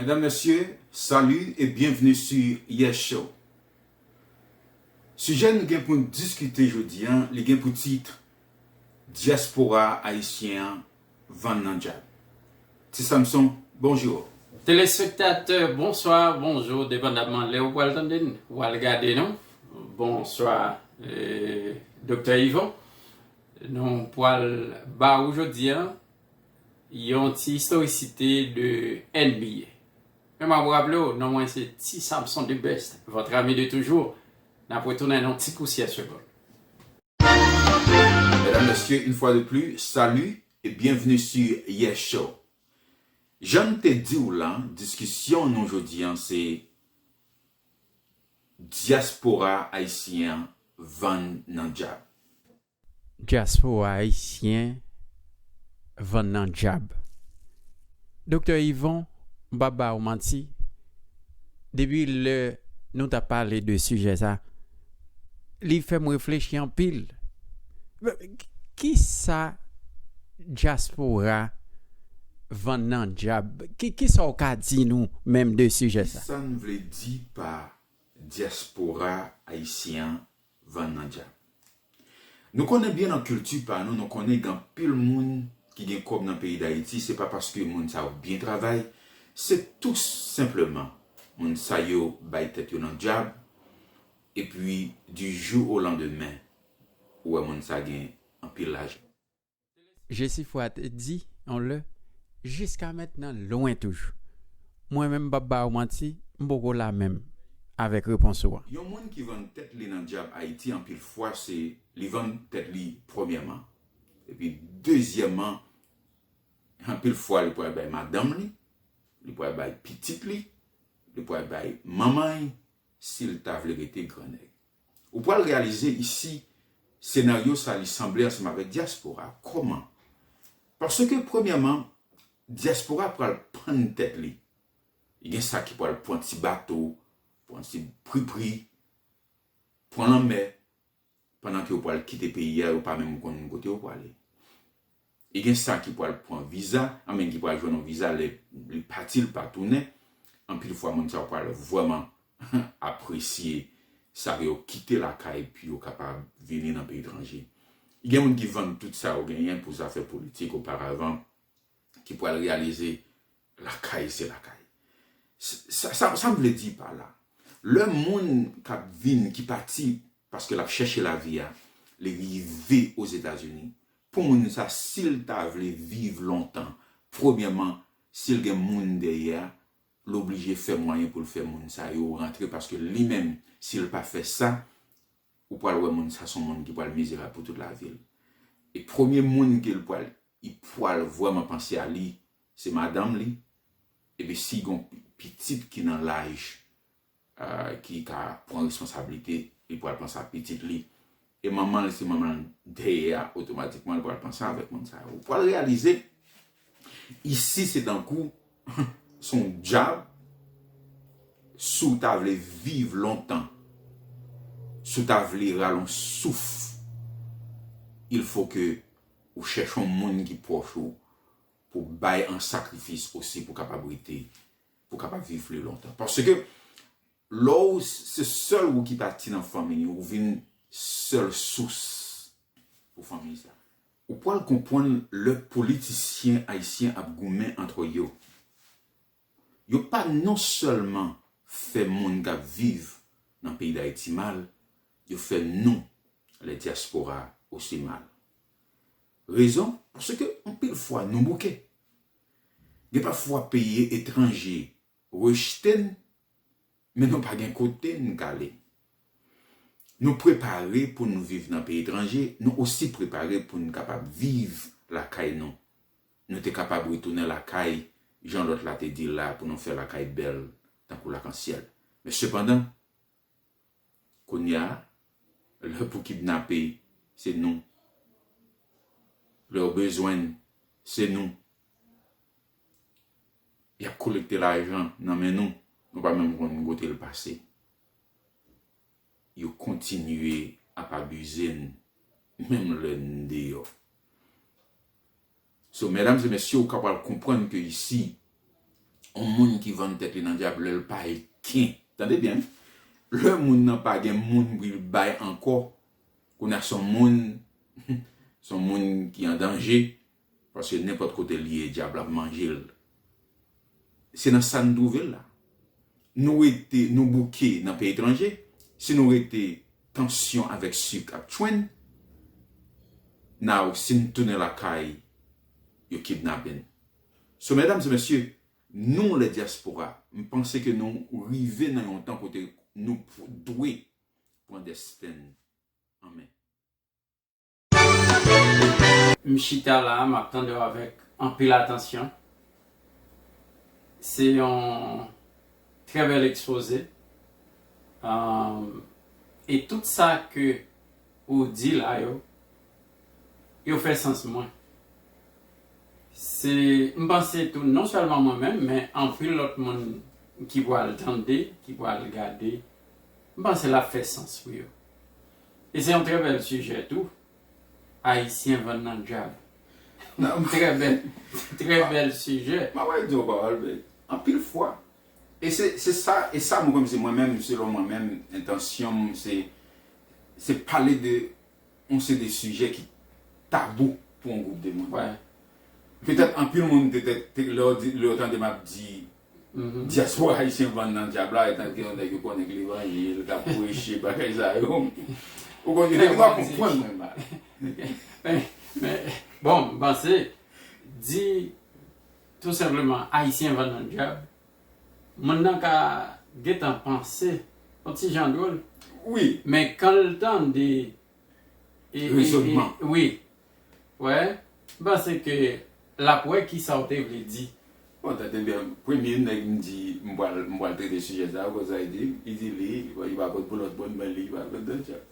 Mesdames, Messieurs, salut et bienvenue sur Yes Show. Sijè nou gen pou n diskite jodi an, li gen pou tit, Dyaspora ayisyen an vann nan djab. Ti Samson, bonjour. Telespektatè, bonswa, bonjou, depandamman lè ou pral tande n, ou pral gade nou. Bonswa Doktè Yvon. Nou pwal ba ou jodi an yon ti istorisite de NBA. Men map raple ou non mwen se Ti Samson the best, votre ami de toujours. Nap retounen nan yon ti pousyè segond. Mesdames, Messieurs, une fois de plus, salut et bienvenue sur Yes Show. Janm te diw lan, diskisyon nou jodi an se. Dyaspora ayisyen an vann nan djab. Dyaspora ayisyen vann nan djab. Doktè Yvon, m pap ba ou manti, depi lè nou t ap pale de sijè sa, li fèm reflechi anpil kisa dyaspora vann nan dyab kisa ou ka di nou menm de sijè sa. Kisa n vle di pa dyaspora ayisyen an vann nan dyab? Nou konnen byen nan kilti pa nou, nou konnen gen anpil moun ki gen kòb nan peyi Dayiti, se pa paske moun sa yo byen travay, se tou senpleman moun sa yo bay tèt yo nan dyab, epi di jou o landemen ou wè moun sa gen anpil lajan. Jesifwa te di yon lè, Jiska mentnan, lwen toujou. Mwen menm, m p ap ba ou manti, m poko la menm avèk repons ou an. Yon moun ki vann tèt li nan dyab Ayiti anpil fwa se li vann tèt li premyèman. Epi dezyèman, anpil fwa li pral bay madanm li, li pral bay pitit li, li pral bay manman l si l ta vle rete gran nèg. Ou pwal reyalize isi senaryo sa li sanble ansanm avèk dyaspora. Kòman? Paske premyèman, dyaspora pwal pann tèt li. Gen sa ki pwal pwan ti bato, pwan ti pripri, pwan lanmè, pandan ke yo pwal kite peyi a, yo pa menm konn kote yo pwale. E gen sa ki pwal pwan viza, an men ki pwal jwenn yon viza lè li pati li pa tounen, anpil fwa moun sa yo pwal vwèman apresye sa ke yo kite lakay pi yo kapab vini nan peyi tranje. Gen moun ki vann tout sa yo genyen pou zafè politik oparavan ki pwal reyalize lakay se lakay. Sa sa m vle di pa la, lè moun kap vin ki pati paske lap chèche lavi a, li rive Ozetazini, Pou moun sa sil ta vle viv lontan premyèman sil gen moun dèyè a l oblije fè mwayen pou l fè moun sa yo rantre paske li menm sil pa fè sa ou pral wè moun sa son moun ki pral mizerab pou tout lavi l e premye moun ke l pral i pral vrèman panse a li se madanm li epi si gon pitit ki nan laj ki ka pran responsablite li pral panse ak pitit li e manman l si manman l dèyè a otomatikman li pral panse avèk moun sa yo ou pral reyalize isi se tankou se yon dyab si w ta vle viv lontan si w ta vle rale yon souf il fo ke ou chèche yon moun ki pwòch ou pou bay an sakrifis osi pou kapab rete. Pou kapab viv pli lontan. Paske lè ou se sèl ou ki pati nan fanmi ou vin sèl sous pou fanmi sa. Ou pwal konpwann lè politisyen ayisyen ap goumen antre yo. Yo pa non sèlman fè moun kap viv nan peyi dayiti mal, yo fè nou lè dyaspora osi mal. Rezon? Paske anpil fwa nou bouke. Gen pafwa peyi etranje rejte n, men nou pa gen kote n k ale. Nou prepare pou n viv nan peyi etranje, nou osi prepare pou n kapab viv lakay nou. Nou te kapab retounen lakay, jan lòt la te di l la, pou nou fè lakay bèl tankou lakansyèl. Men sepandan, Kounya lè pou kidnape se nou. Lèw bezwenn se nou. Yap kolekte lajan nan men nou, nou pa menm konn kotel pase. Yo kontinye ap abize n menm lè n deyò. So medam e mesye ou ka pral konprann ke isi on moun ki vann tèt li nan dyab lèl pa e ken tande byen lè moun nan pa gen moun pou li bay ankò kounya son moun son moun ki an danje paske nenpòt kotel ye dyab la manjel Se nan sa n twouve l la. Nou rete, nou bouke nan peyi etranje. Si nou rete, tansyon avèk sik ap tchwe n. Now, si n tounen lakay, yo kidnape n. So, medam e mesye, nou le dyaspora, m panse ke nou rive nan yon tan kote nou dwe pran desten n an men. M chita la map tandew avèk anpil atansyon. Se yon trè bèl ekspoze. E tout sa ke ou di la yo, yo fè sans pou mwen. Se m panse tou non sèlman mwen menm men anpil lòt moun ki pwal tande, ki pwal gade, m panse lap fè sans pou yo. E se yon trè bèl sijè tou, Ayisyen vann nan dyab. Trè bèl, trè bèl sijè. M ap redi w pawòl bay, anpil fwa, e se, se sa, e sa mwen kwè m se mwen menm, selon mwen menm, entansyon m se, se pale de yon seri de sijè ki tabou pou yon gwoup de moun. Petèt anpil moun petèt, lè yo di, lè yo tande m ap di Dyaspora ayisyen vann nan dyab la etan ke yon nèg yo konnen k levanjil, kap preche bagay sa yo. Ou konn gen nèg yo ap konprann mwen mal. Men bon m panse di tou senpleman ayisyen vann nan dyab, moun nan ka gentan panse yon ti jan dwol. Wi. Men kan l tande rezonman. Wi. Wè, m panse ke l ap wè ki sa w te vle di. Bon, tèt e bèm, premye nèg m di m pral m pral trete sijè sa a, ou konn sa li di m? Li di li, li pa konn pou lòt moun men li pa konn Don Tchak.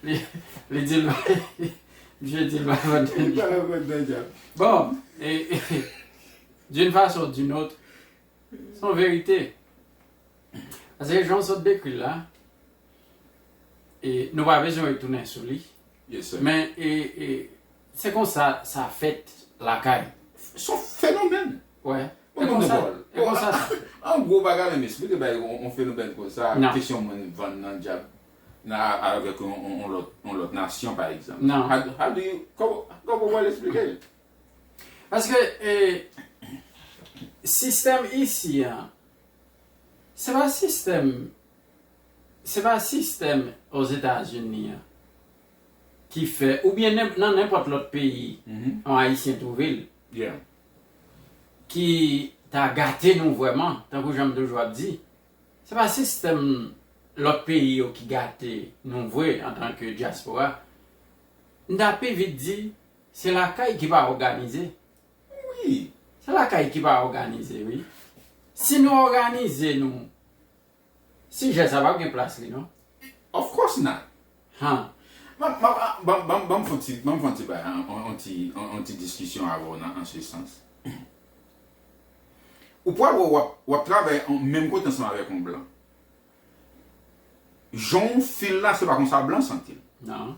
Li, li di l misye di l pa konn Don Tchak. Li pa konn Don Tchak. Bon, e, d'une façon ou d'une autre, s on verite. Paske jan w sot dekri l la, nou pa bezwen retounen sou li, men se konsa sa fèt lakay. Son fenomèn. Wè. E konsa. E konsa sa fèt. An gwo bagay menm espri te bay yon fenomèn konsa, kesyon moun vann nan dyab avèk yon lòt nasyon pa egzanp. Nan. How do you, kòman w al esplike l? Paske sistèm isi an, Se pa sistèm Se pa sistèm Ozetazini an ki fè oubyen nen nan nenpòt lòt peyi yon Ayisyen twouve l ki ta gate nou vrèman tankou jan m toujou ap di se pa sistèm lòt peyi yo ki gate nou vre antanke dyaspora. M ta pi vit di se lakay ki pa òganize Wi, se lakay ki pa òganize wi. Si nou òganize nou, sijè sa pap gen plas li non. Of course not! Han! Banm fon ti, banm fon ti bay, yon ti, yon ti diskisyon avè w nan an se sans. Ou pral wè wap, wap travay menm kote ansanm avèk yon blan. Jan w feel la se pa konsa blan santi l. Nan.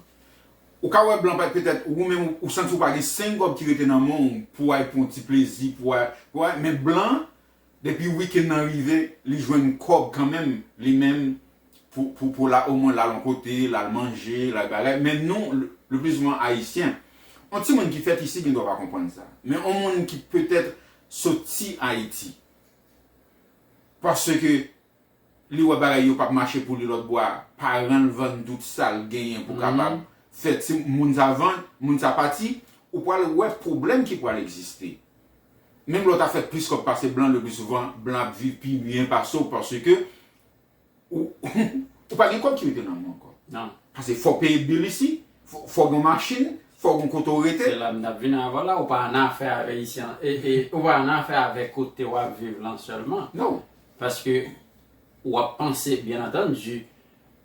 Ou ka wè blan petèt ou menm ou santi ou pa gen 5 gob ki rete nan men w pou al pran yon ti plezi pou al wè men blan depi weekend nan rive li jwenn kob kanmenm li menm pou pou la o mwen l al yon kote l al manje l al bagay men nou le plus souvent Haïtien yon ti moun ki fèt isi gen dwa pa konprann sa men yon moun ki petèt soti Haïti paske Li wè bagay yo pap mache pou li lòt bò a, paran l vann tout sa l genyen pou kapab fè ti moun sa vann, moun sa pati, ou pral wè pwoblèm ki pral egziste. Menm lè w ta fè plis kòb pase blan, le pli souvan blan ap viv pi byen pase w paske ou pa gen kòb ki rete nan men w ankò. Pase fò w peye bill isi, fò w gen yon machin, fò w gen yon kote w rete. Se la m t ap vini avè w la, ou pa annafè avè isi, ou pa annafè avè kote w ap viv lan sèlman. Paske ou ap panse, byen antandi,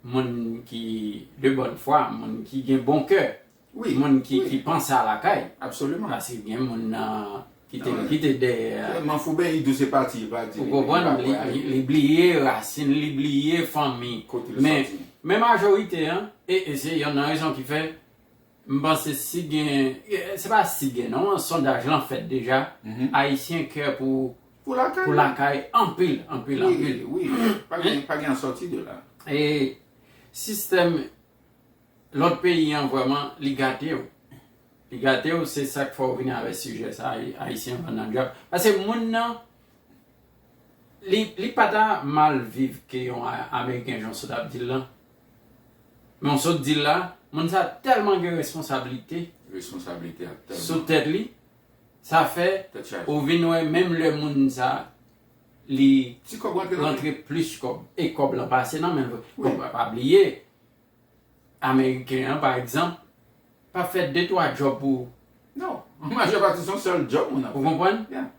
moun ki de bòn fwa, moun ki gen bon kè, moun ki panse a lakay. Paske gen moun nan ki te kite dèyè a. Ou konprann? Li bliye rasin, li bliye fanmi. Men majorite an, e se yonn nan rezon ki fè. M panse si gen, se pa si gen non, sondaj lan fèt deja, Ayisyen kè pou pou lakay anpil, anpil, anpil. Wi, wi, pa gen sòti de la. E sistèm lòt peyi an vrèman li gate w. Li gate w, se sa k fè w vini avèk sijè sa a, Ayisyen vann nan dyab. Pase moun nan, li pa ta mal viv ke yon Ameriken jan w sot ap di l lan. Men w sot di l la, moun sa tèlman gen responsablite sou tèt li, sa fè ou vin wè menm lè moun sa li rantre plis kòb e kòb lan pase nan men l, men pa bliye ameriken an pa egzanp pa fè de twa djòb pou ou. Non, majè pati se yon sèl djòb moun ap fè. Ou konprann?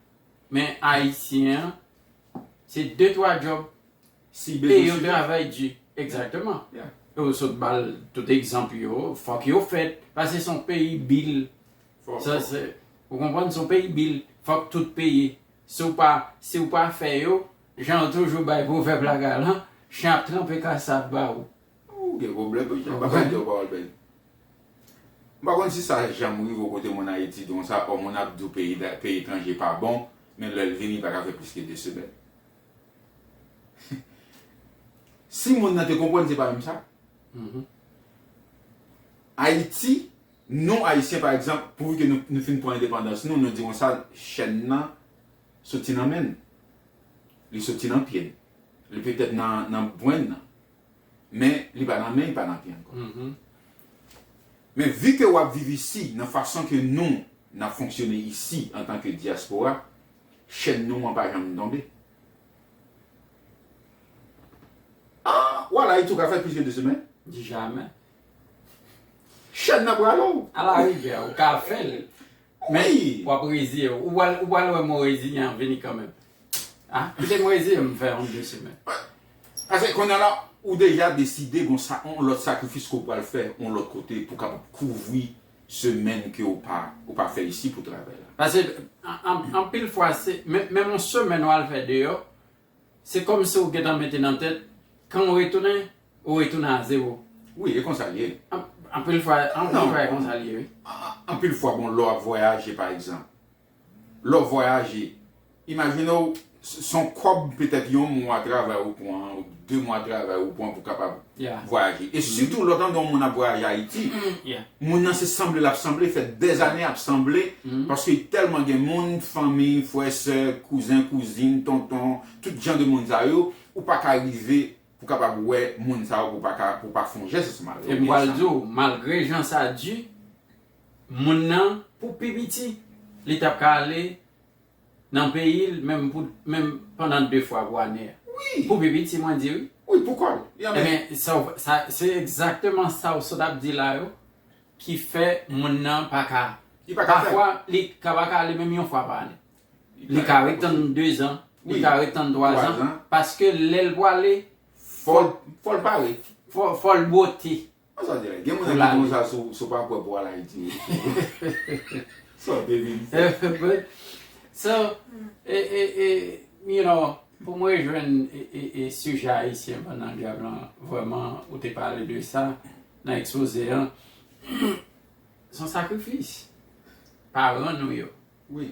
Men ayisyen an se de twa djòb sible yon travay di exactement yo sot bal tout egzanp yo fòk yo fèt pase son peyi bil sa se ou konprann son peyi bil fòk tout peyi sou pa si ou pa fè yo jan yo toujou bay pou vèb la galan chen ap tranpe kasav ba ou ou gen problem wi jan bagay yo pa wòl bèl m pa konn si sa janm rive kote moun ayiti di konsa ò moun ap di w peyi etranje pa bon men lè l vini pa ka fè plis ke 2 semèn Si moun nan te konprann se pa menm sa. Ayiti, nou Ayisyen pa egzanp, pouvi ke nou fin pran endepandans nou, nou di konsa chèn nan soti nan men n. Li soti nan pye n. Li petèt nan bwen n nan. Men li pa nan men, li pa nan pye ankò. Men vi ke w ap viv isi, nan fason ke nou n ap fonksyone isi antan ke dyaspora, Chèn nou an pa janm tonbe. Ahh wa la itou ka fè plis ke 2 semèn. Di jamè. Chèn nan pral ou. A la rigè ou ka fè l. Men w ap reziye w. Ou pral wè m ou reziyen an vini kanmenm. A kite m reziye m fè yon 2 semèn. Pase kounye la ou deja deside gon sa yon lòt sakrifis ke w pral fè yon lòt kote pou w kapab kouvri semèn ke ou pa ou pa fè isi pou travay la. Pase anpil fwa se menm yon semèn ou al fè deyò se kòmsi ou gentan mete nan tèt kan ou retounen ou retounen a zewo. Wi e konsa li ye. Anpil fwa anpil fwa e konsa li ye wi. Anpil fwa bon lè w ap vwayaje pa egzanp Lè w vwayaje, imajine w se yon kòb petèt yon mwa travay ou pran, ou de mwa travay ou pran pou kapab vwayaje. E sitou lè w tande yon moun ap vwayaje Ayiti, moun nan se sanble l ap sanble, l fè dèzane ap sanble paske li tèlman gen moun, fanmi, frè, sè, kouzen, kouzin, tonton, tout jan de moun sa yo, ou pa ka rive pou kapab wè moun sa yo pou w pa fè yon jès oswa. Epi m pral di w, malgre jan sa di, moun nan pou pi piti li tap ka ale nan peyil menm pou menm pandan 2 fwa pou ane a pou pi piti mwen di wi wi pou kòl ebyen sa se egzakteman sa ou sot ap di la yo ki fè moun nan pa ka pafwa li ka pa ka ale menm yon fwa pa ane li ka ret tann 2 zan li ka ret tann 3 zan paske lèl pou ale fòl pare fòl bwote Pou la li. So, e, e, e, you know, pou m rejwenn e sijè Ayisyen pandan gèv lan, vrèman, ou te pale de sa nan ekspoze an, se yon sakrifis paran nou yo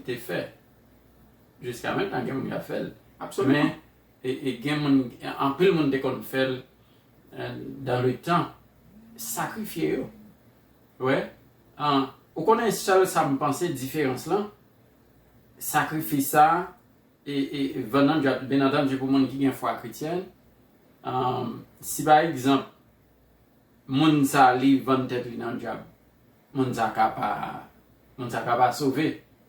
te fè. Jiska mentnan gen moun k ap fè l. Men, e gen moun anpil moun te konn fèl dan le tan sakrifye yo wè an ou konnen sèl sam panse diferans lan sakrifis sa e e vannan djòl byen antann di pou moun ki gen fwa kretyen an si pa egzanp. Moun sa li vann tèt li nan djab moun sa ka pa moun sa ka pa sove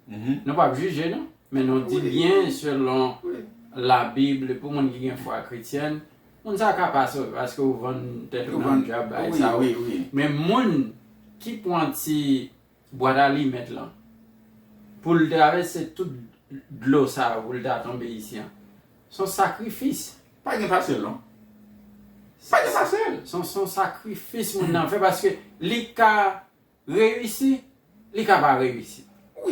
nou pap jije non men nou di byen selon la bible pou moun ki gen fwa kretyenn moun sa ka pa sove paske ou vann tèt ou nan djab bay sa wi men moun ki pwan ti Bwat alimèt lan. Pou l travèse tout dlo sa yo pou l ta tonbe isi an. S on sakrifis. Pa gen fasil non. Pa gen fasil. S on sakrifis moun nan fè paske li ka reyisi, li ka pa reyisi.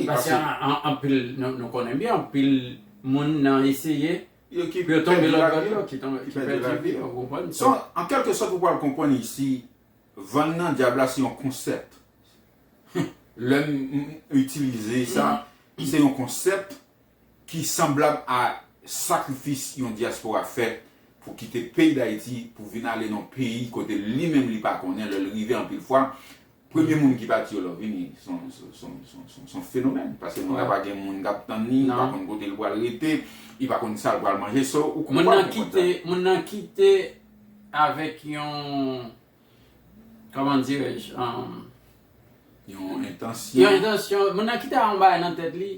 Paske anpil, nou konnen byen anpil moun nan eseye pou yo tonbe lòtbò dlo ki pèdi lavi yo. Ou konprann? S on, an kèlke sòt ou pral konprann isi Van nan dyab la se yon konsèp. Lè m itilize sa, se yon konsèp ki sanblab a sakrifis yon dyaspora fè pou kite peyi Dayiti pou vin ale nan yon peyi kote li menm li pa konnen lè l rive anpil fwa premye moun ki pati yo lè w vini s on fenomèn paske moun la pa gen moun k ap tann li li pa konn kote l pral rete li pa konn sa l pral manje so ou konprann Moun nan kite Avèk yon, kòman dirèj, yon. Yon entansyon. Yon entansyon. Moun nan ki te a yon bagay nan tèt li,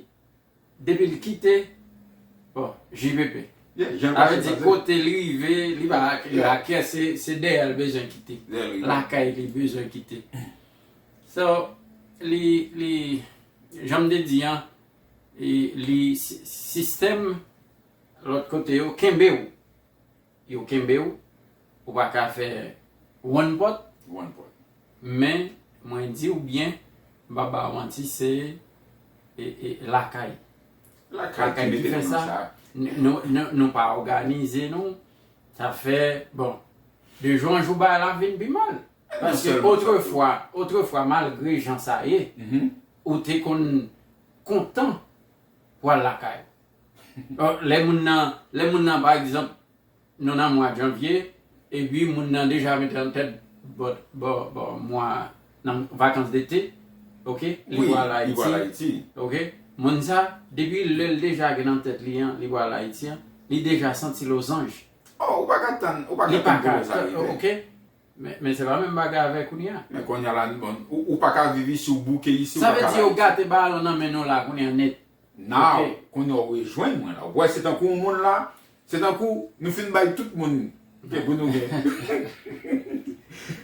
depi li kite, bon, JPP. Yeah, jan sa se pase. Avè di kote li rive, li pa akè, se dèyè li bezwen kite. Dèyè li. Lakay li bezwen kite. So, li, li, jan m te di an, li, sistèm lòt kote yo kenbe ou. Yo kenbe w, ou pa ka fè one pot. One pot. Men mwen di w byen, m pa ba w manti se lakay. Lakay ki mete nou nan sa. Nou pa òganize nou, sa fè bon, de jou an jou bagay la ap vin pi mal. Paske otrefwa, otrefwa malgre jan sa ye, ou te konn kontan pou al lakay ou. Lè moun nan, lè moun nan pa egzanp nou nan mwa janvye epi moun nan deja mete an tèt bòt bò bò mwa nan vakans dete ok li pwal ayiti ok moun sa depi lèl deja gen nan tèt li an li pwal ayiti an li deja santi lozanj li paka ok. Men se pa menm bagay avè kounye a. Men kounye a la bon ou pa ka viv isi ou bouke isi ou pa ka la. Sa vle di yo gate balon nan men nou la kounye a nèt. Now kounye a ou rejwenn mwen la. Ou wè se tankou yon moun la, se tankou nou fin bay tout moun ke pou nou gen.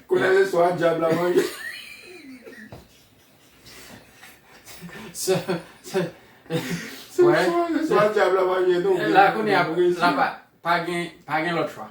Kounye a se swa dyab la manje. Se swa dyab la manje nou. La kounye a pa gen lòt chwa.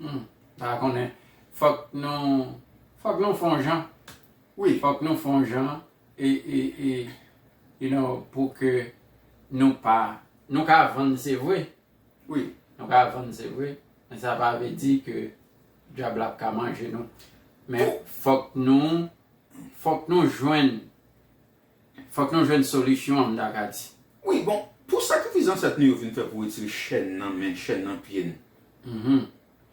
Humm pa konnen fok nou fok nou fon jan wi fok nou fon jan e e e you know pou ke nou pa nou ka vann se vre wi nou ka vann se vre men sa pa vle di ke dyab la pka manje nou men fok nou fok nou jwenn Fòk nou jwenn solisyon an m ta ka di. Wi bon, pou sakrifis zansèt nou yo vin fè pou retire chèn nan men, chèn nan pye n.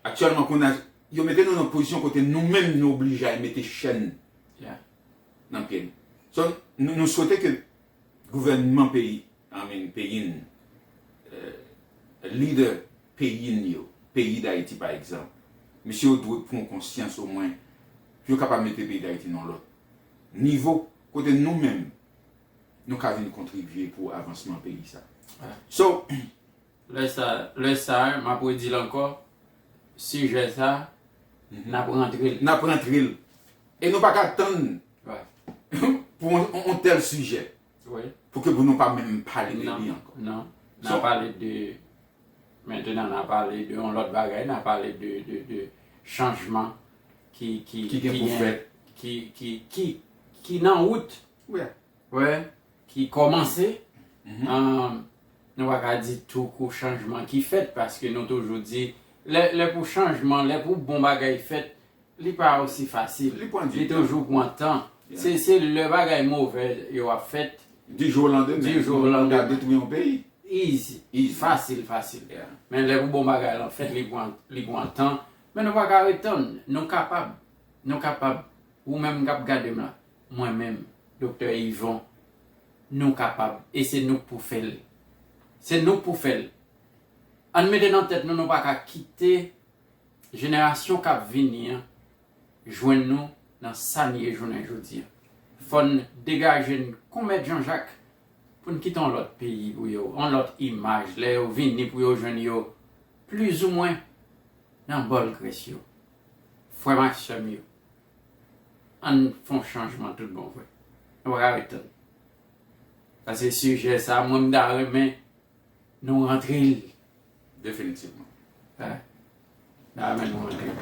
Aktyèlman kounye a, yo mete nou nan pozisyon kote nou menm nou oblije al mete chèn nan pye n. So, nou swete ke gouvènman peyi, I mean peyi n, lidè peyi n yo, peyi Dayiti pa egzanp, mesye yo dwe pran konsyans omwen pou yo kapab mete peyi Dayiti nan yon lòt nivo. Kote nou menm nou ka vin kontribye pou avansman peyi sa. So. Lè sa a, m ap redi l ankò, sijè sa a, n ap rantre l. N ap rantre l. E nou pa ka tann pou yon tèl sijè pou ke pou nou pa menm pale de li ankò. Non. N ap pale de Mentenan na pale de yon lòt bagay, na pale de chanjman ki gen pou fèt, ki nan wout, ki kòmanse, nou pa ka di tou kou chanjman ki fèt, paske nou toujou di, lè pou chanjman, lè pou bon bagay fèt, Li pa osi fasil. Li pran du tan. Li toujou pran tan. Yeah. Se lè bagay movè yo ap fèt. Du jour au lendemain. Du jour au lendemain. Pou yo ka detwi yon peyi. Easy. Easy. Fasil fasil. Yeah. Men lè pou bon bagay lan fèt li pran, li pran tan. Men nou pa ka ret tann. Nou kapab. Nou kapab. Ou menm kap gade m la. Mwen menm. Doktè Yvon. Nou kapab. E se nou k pou fè l. Se nou k pou fè l. Ann mete nan tèt nou nou pa ka kite. jenerasyon kap vini an jwenn nou nan sa n ye jounen jodi an. Fò n degaje n kon mèt Janjak pou n kite yon lòt peyi pou yo, yon lòt imaj lè yo vini pou yo jwenn yo plizoumwen nan bòl grès yo. Frè m ak sè m yo, an n fè yon chanjman tout bon vre. Nou pa ka ret tann. Sa se sijè sa mwen m ta renmen Nou rantre li definitivman. Hein? Nan men nou rantre li.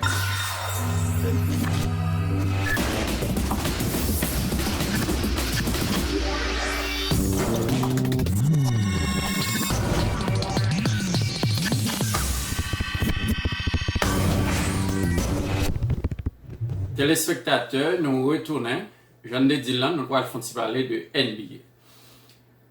Telespektatè nou retounen, jan n te di l lan nou pral fon ti pale de NBA.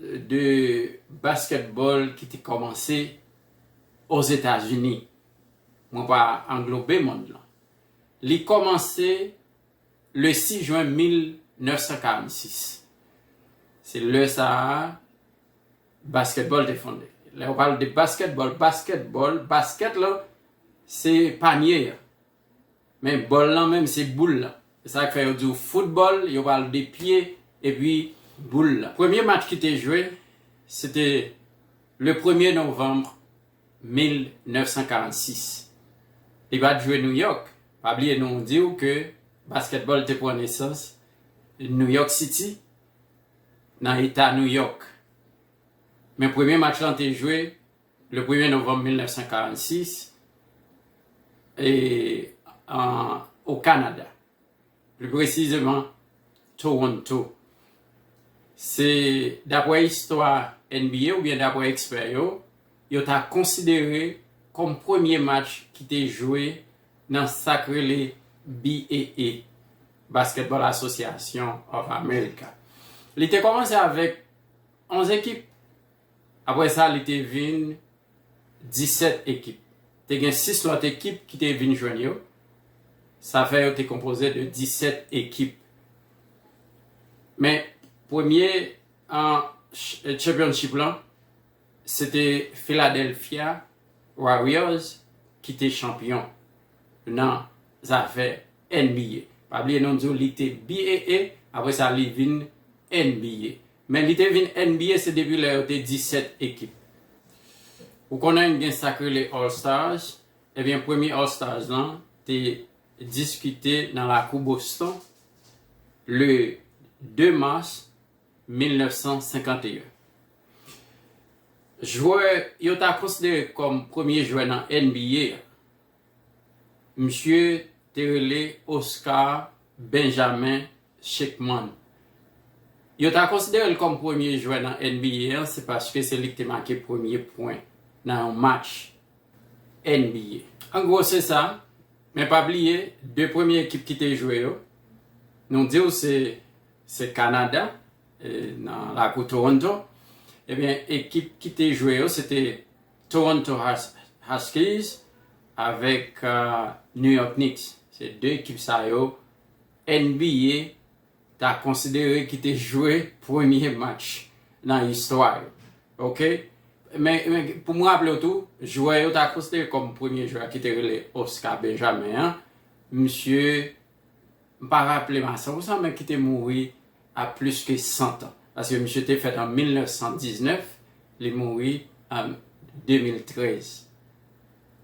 de basketball ki te kòmanse Ozetazini, mwen pa anglobe mond lan, li kòmanse le 6 jwen 1946. Se lè sa a basketball te fonde. Lè yo pale de basketball, basketball, basket lan se panye an. Men bòl lan menm se boul lan. Se sa k fè yo di w foutbòl, yo pale de pye epi boul lan. Premye match ki te jwe, se te le premye novanm 1946. Li pa t jwe Nouyòk. Pa bliye nou di w ke baskètbòl te pran nesans Nouyòk Siti, nan eta Nouyòk. Men premye match lan te jwe. Le premye novanm 1946, o Kanada, pli presizeman Toronto, se dapre istwa NBA oubyen dapre ekspè yo, yo ta konsidere kòm premye match ki te jwe nan sa k rele BAA, Basketball Association of America. Li te kòmanse avèk 11 ekip. Apre sa, li te vin 17 ekip. Te gen 6 lòt ekip ki te vin jwenn yo. Sa fè yo te konpoze de 17 ekip. Men, premye championship lan, se te Philadelphia Warriors ki te chanpyon nan zafè NBA. Pa bliye nou di w li te BAA, apre sa li vin NBA. Men li te vin NBA se depi lè yo te 17 ekip. Ou konnen gen sa k rele All Stars, ebyen premye All Stars lan te diskite nan lakou Boston le 2 mas 1951. Jwè yo ta konsidere kòm premye jwè nan NBA a Misye te rele Oscar Benjamin Schekman. Yo ta konsidere l kòm premye jwè nan NBA an se paske se li ki te make premye pwen nan yon match NBA. An gwo se sa, men pa bliye 2 premye ekip ki te jwe yo, nou di w se se Kanada nan lakou Toronto, ebyen ekip ki te jwe yo se te Toronto Huskies avèk New York Knicks, se 2 ekip sa yo NBA ta konsidere ki te jwe premye match nan istwa yo. Ok, men pou m raple w tou, jwè yo ta konsidere kòm premye jwè a ki te rele Oscar Benjamin an, misye M pa raple m a 100 pousan men ki te mouri a plis ke 100 tan. Paske misye te fèt an 1919, li mouri an 2013.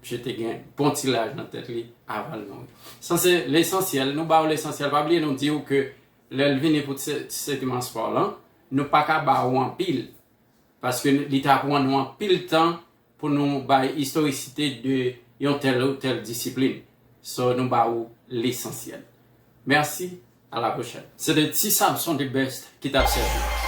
Misye te gen bon ti laj nan tèt li avan l mouri. Sa se lesansyèl, nou ba ou lesansyèl. Pa bliye nou di ou ke lè l vini pou segman spò lan, nou pa ka ba ou anpil. Paske li ta pran nou anpil tan pou nou bay istorisite de yon tèl ou tèl disiplin, so nou ba ou lesansyèl. Mèsi, a la pwochèn. Se te Ti Samson the best ki tap sèvi w.